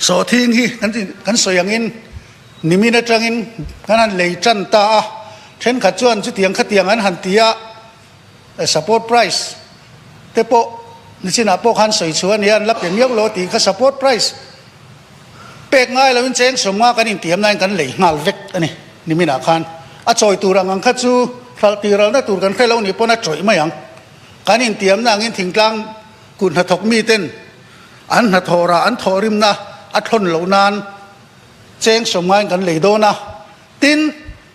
Sawhthing hi kan sawi angin nimin atangin kan han lei tan ta a, thenkhat chuan chutiang khatiang an han ti a, support price te pawh nichinah pawh khan sawi chhuah a nia an la pe miau lo a tih kha support price. Pek ngai lo in cheng sawm nga kan in tiam nain kan lei nghal vek a ni. Nimin ah khan a chawi tur ang ang kha chu hralh tih ralna tur kan hre lo nih pawn a chawih mai ang. Kan in tiam na angin thingtlang kut hnathawk mi ten an hnathawh rah an thawh rim na a thlawn loh nan cheng sawm ngain kan lei dawn a. Tin,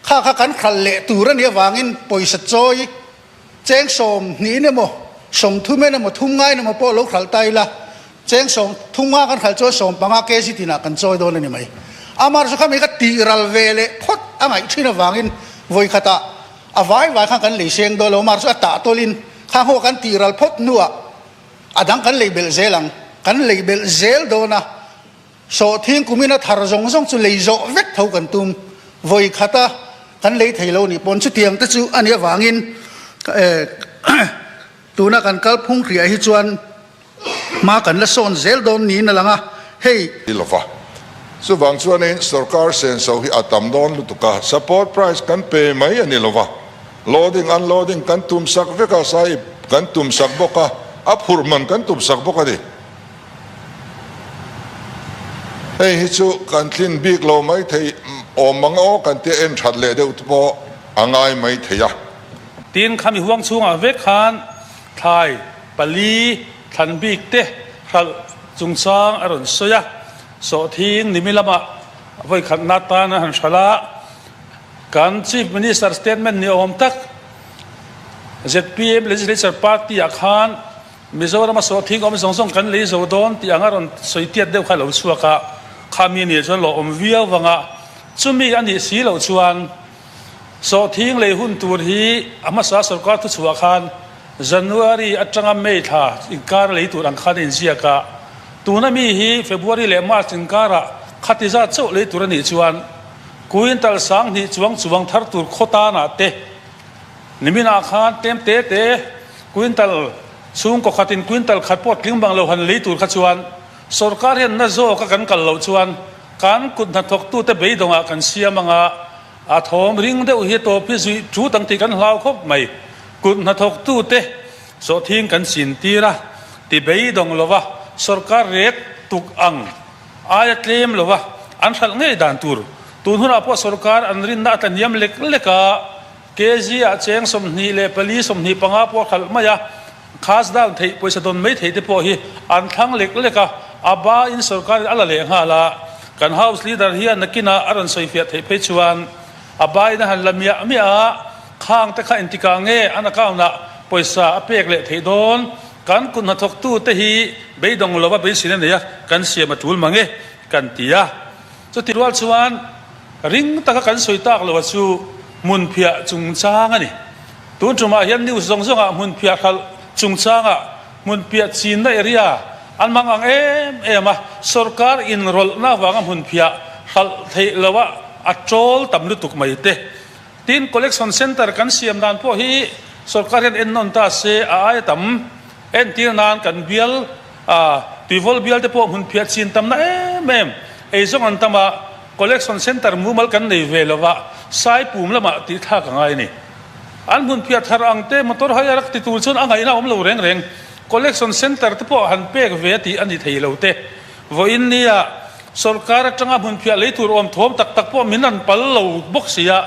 kha kha kan hralh leh tur a nih avangin pawisa chawi, Cheng sawm hnih in emaw, sawm thum in emaw, thum nga in emaw pawh lo hralh ta ila, cheng sawm, thum nga kan hralh chuan sawm panga kg tinah kan chawi dawn a ni mai. Amarawhchu kha mi kha tihral ve leh phawt a ngaih thin avangin vawi khata a vai vai khan kan lei seng dawn lo, amah chu a tah tawlhin kha ngaw kan tihral phawt hnuah a dang kan lei belh zel ang, kan lei belh zel dawn a. Sawh thing kumin a thar zawng zawng chu lei zawh vek tho kan tum vawi khat a, kan lei thei lo ni pawn. Chutiang te chu a nih avangin tuna kan kal phung hriah hi chuan hma kan la sawn zel dawn niin a lang a, hei. Ti lo va. Chuvang chuanin sorkar sen so hi a tam dawn lutuk a, support price kan pe mai a ni lo va, loading unloading kan tum sak vek a, sahib kan tum sak bawk a, a phurh hman kan tum sak bawk a ni. Hei hi chu kan tlin bik lo mai thei awm ang aw kan ti a en that leh deuh te pawh a ngai mai thei a. Tin, khami huang chhungah vek khan thlai pali thlan bik te hralh chungchang a rawn sawi a, Sawhthing Nimi lama vawikhat na tan a han hralh a, kan Chief Minister statement ni awm tak ZPM Legislature Party ah khan, Mizorama sawh thingawm zawng zawng kan lei zo dawn tih anga rawn sawi tiat deuh kha lo chhuak a, khami nih chuan lawhawm viau vanga chumi a nih si loh chuan sawh thing lei hun tur hi a hmasa sawrkar thuchhuah khan January atanga May thla inkar lei tur ang khan a inziak a, tuna mi hi February leh March inkarah khatizat chauh lei tur a nih chuan Kuintal sang hnih chuang chuang thar tur khaw tanah te Niminah khan tem te te quintal chhungkaw khatin quintal khat pawh tling bang lo han lei tur kha chuan sawrkar hian na zawk a kan kal loh chuan kan kut hnathawktute beidawngah kan siam anga a thawm ring deuh hi tawpi zuih thu dang tih kan hlau khawp mai. Kut hnathawktute sawhthing kan chin tir a ti beidawng lova sawrkar ret tuk ang. Aia tlem lo a, an hralh ngei dan tur. Tun hunah pawh sorkar an rinna a tlaniam lek lek a, KG ah cheng sawmhnih leh pali sawmhnih panga pawh a hralh mai a, khas dan theih pawisa dawn mai theih te pawh hi an thlang lek lek a, a ba in sorkar in a la leh nghal a, kan house leader hi a nakin ah a rawn sawi fiah theih phei chuan a ba in a han la miah miah a, khang te kha entikah nge an account ah pawisa a pek leh theih dawn? Kan kut hna thawktu te hi beidawng lova beisin a nei a, kan siam a tul mange kan ti a. Chuti rual chuan ring taka kan sawi tak lo a chu hmunphiah chungchang a ni. Tun tumah hian news zawng zawngah hmunphiah hralh chungchangah hmunphiah chinna area an mang ang em em a, sorkar inrawlhna avanga hmunphiah hralh theih loh a a ṭawl tam lutuk mai te. Tin, Collection Centre kan siam dan pawh hi sorkar hian en nawn ta se a ai a tam. Entir nan kan bial a tuivawl bial te pawh hmun phiah chin tamna em em ei zawng an tam a, Collection Centre mumal kan nei ve lo a, Saipum lamah tih thlak a ngai a ni. An hmun phiah thar ang te motor hire a rak ti tur chuan a ngaihna a awm lo reng reng. Collection Centre te pawh han pek ve a tih a ni thei lo te. Vawiin nia, sorkar atanga hmunphiah lei tur awm thawm tak tak pawh min rawn pal lo bawk si a,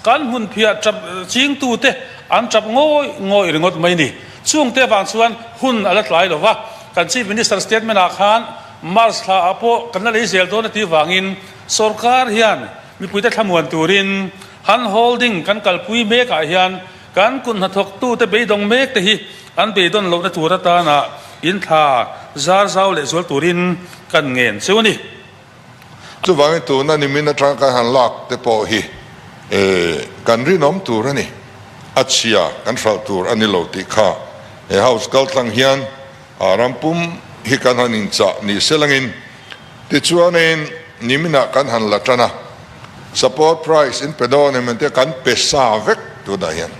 kan hmunphiah tap chingtute an tap ngawih ngawih ringawt mai ni. Chungte avang chuan hun a la tlai lo va, kan Chief Minister statement ah khan March thla ah pawh kan la lei zel dawn a tih vangin sorkar hian mipuite thlamuan turin han holding kan kalpui mek ah hian, Kan kut hnathawktute beidawng mek te hi an beidawn lohna tur atanah in thla zar zau leh zual turin kan ngen chu a ni. Chuvangin tuna nimin atang kan han lak te pawh hi kan rinawm tur a ni, a chhia kan hralh tur a ni lo tih kha he house kaltlang hian, A ram pum hi kan han inchah ni sel angin, tichuanin niminah kan han la tan a, support price in pe dawn em ente kan pe sa vek tunah hian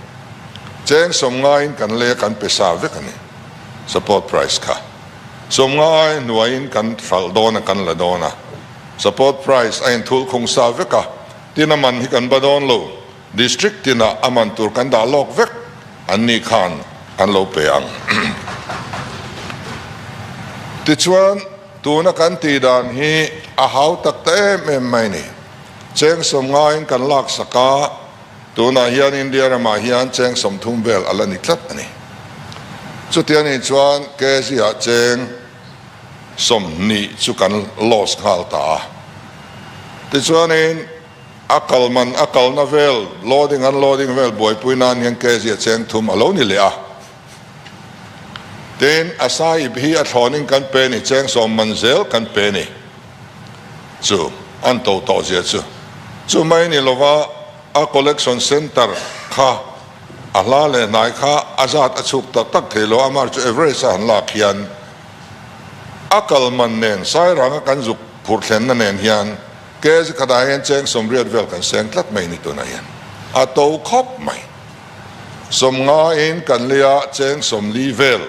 cheng sawm ngaiin kan lei a, kan pe sa vek a ni support price kha. Sawm ngai hnuaiin kan hralh dawn a, kan la dawn a, support price a inthul khung sa vek a, tina man hi kan ba dawn lo. District tinah a man tur kan dah lawk vek an nih khan kan lo pe ang. Tichuan, tuna kan tih dan hi a hau tak ta em em mai ni. Chengsawm ngaiin kan lak sak a, tunah hian India ramah hian chengsawm thum vel a la ni tlat a ni. Chutia nih chuan Kzia cheng sawm hnih chu kan loss nghal ta a. Tichuanin. A kal man a kalna vel, loading an loading vel buaipui nan hian kg a cheng thum a lo ni leh a. Tin, a sai ip hi a thlawning kan pe ni, cheng sawm man zel kan pe ni. Chu an to tawh zia chu chu mai ni lova, a collection centre kha a hla leh hnai kha a zat a chhuk ta tak thei lo a, mar chu average a han lak hian a kal man nen, sairanga kan zuk phurh thlenna nen hian, Case khat ah hian cheng sawmriat vel kan seng tlat mai ni tunah hian a to khawp mai. Sawm nga in kan lei a cheng sawmli vel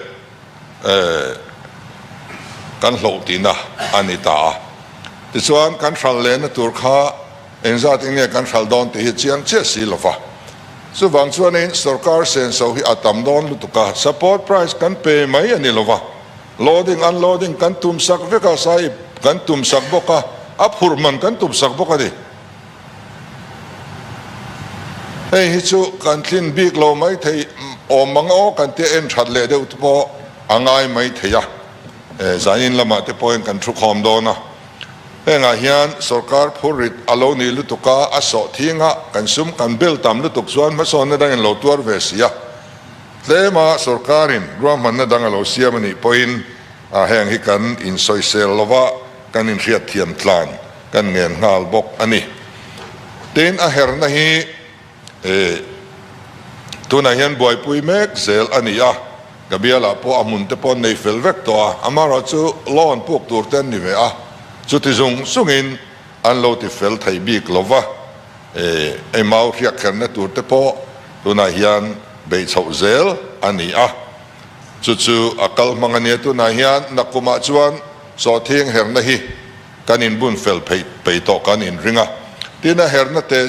kan hloh tih na a ni ta a. Tichuan kan hral leh na tur kha engzat in nge kan hral dawn tih hi chiang chiah si lo va. Chuvang chuan in sorkar senso hi a tam dawn lutuk a support price kan pe mai a ni lo va. Loading, Unloading kan tum sak vek a, sai kan tum sak bawk a, a phurh hman kan tum sak bawk a ni. Hei hi chu kan tlin bik lo mai thei awm ang aw kan tih a, en that leh deuh te pawh a ngai mai thei a, eh zanin lamah te pawhin kan thu khawm dawn a. Hengah hian sorkar phur rit a lo nih lutuk a, a sawh thing a, kan sum kan bel tam lutuk chuan hmasawn atangin lo tuar ve si a. Tlema sorkarin ruahmanna dang a lo siam a nih pawhin a heng hi kan insawisel lo va, kan inhriatthiam tlan kan ngen nghal bawk a ni. Tin, a herhna hi tunah hian buaipui mek zel a ni a, ka bialah pawh a hmunte pawh nei fel vek tawh a, amaherawhchu loan puk turte an ni ve a, chuti zung zungin, An lo ti fel thei bik lo va, eh, ei mau hriak kherna tur te pawh tunah hian beih chhoh zel a ni a, chu chu a kal hmang a nia, tunah hian na kum ah chuan sawhthing herna hi kan in bun fel phei phei tawh kan in ring a, tin a herna te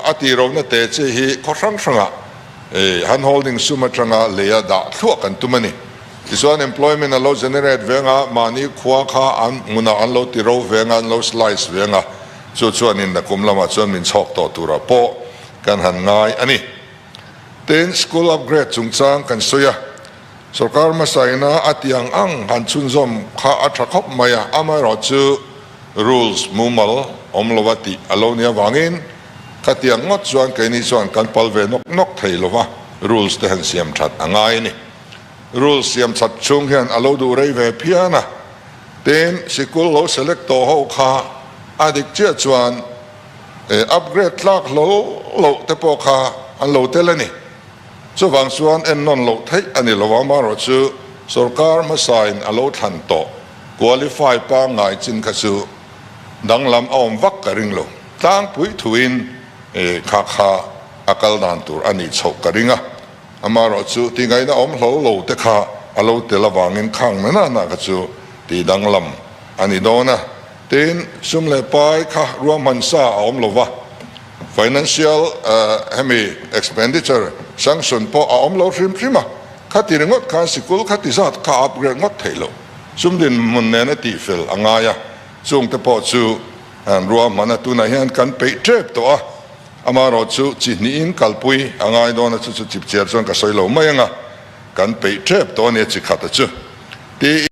a ti ro na te che hi khaw hrang hrang ah eh han holding sum atanga lei a dah thluah kan tum a ni. Tichuan employment an lo generate veng a, mahni khua kha an hmunah an lo ti ro veng a, an lo slice veng a, chu chuan in a kum lamah chuan min chhawk tawh turah pawh kan han ngai a ni. Tin, school upgrade chungchang kan sawi a, sorkar hmasaina a tiang ang han chhunzawm kha a tha khawp mai a, amaherawh chu rules mumal awm lo a tih a lo nih avangin ka tiang ngawt chuan keini chuan kan pal ve nawk nawk thei lova rules te han siam that a ngai a ni. Rule siam chhat chhung hian alo duh rei ve phian a, tin sikul lo select tawh ho kha a dik chiah chuan e upgrade tlak hlawh loh te pawh kha an lo tel a ni. Chuvang chuan en nawn loh theih a ni lo a, marawh chu sorkar hmasa in alo thlan tawh qualify pangngai chin kha chu danglam a awm vak ka ring lo, tlangpui thuin e khakha a kal dan tur a nih chhoh ka ring a. Amaherawh chu tingaihna awm hlauh lo te kha a lo tel avangin khang nana hna kha chu tih danglam a ni dawn a. Tiin, sum leh pai kha ruahmansa a awm lo va, financial hemi expenditure sanction pawh a awm lo hrim hrim a. Khati ringawt khan sikul khati zat kha a upgrade ngawt theih loh. Sum dinhmun nena tihfel a ngai a, chungte pawh chu ruahmana tunah hian kan peih tep tawh a. Amaherawh chu chi hnihin kalpui a ngai dawn a, chu chu chipchiar chuan ka sawi lo mai anga kan peih ṭhep tawh a nia chi khata chu. Tiin.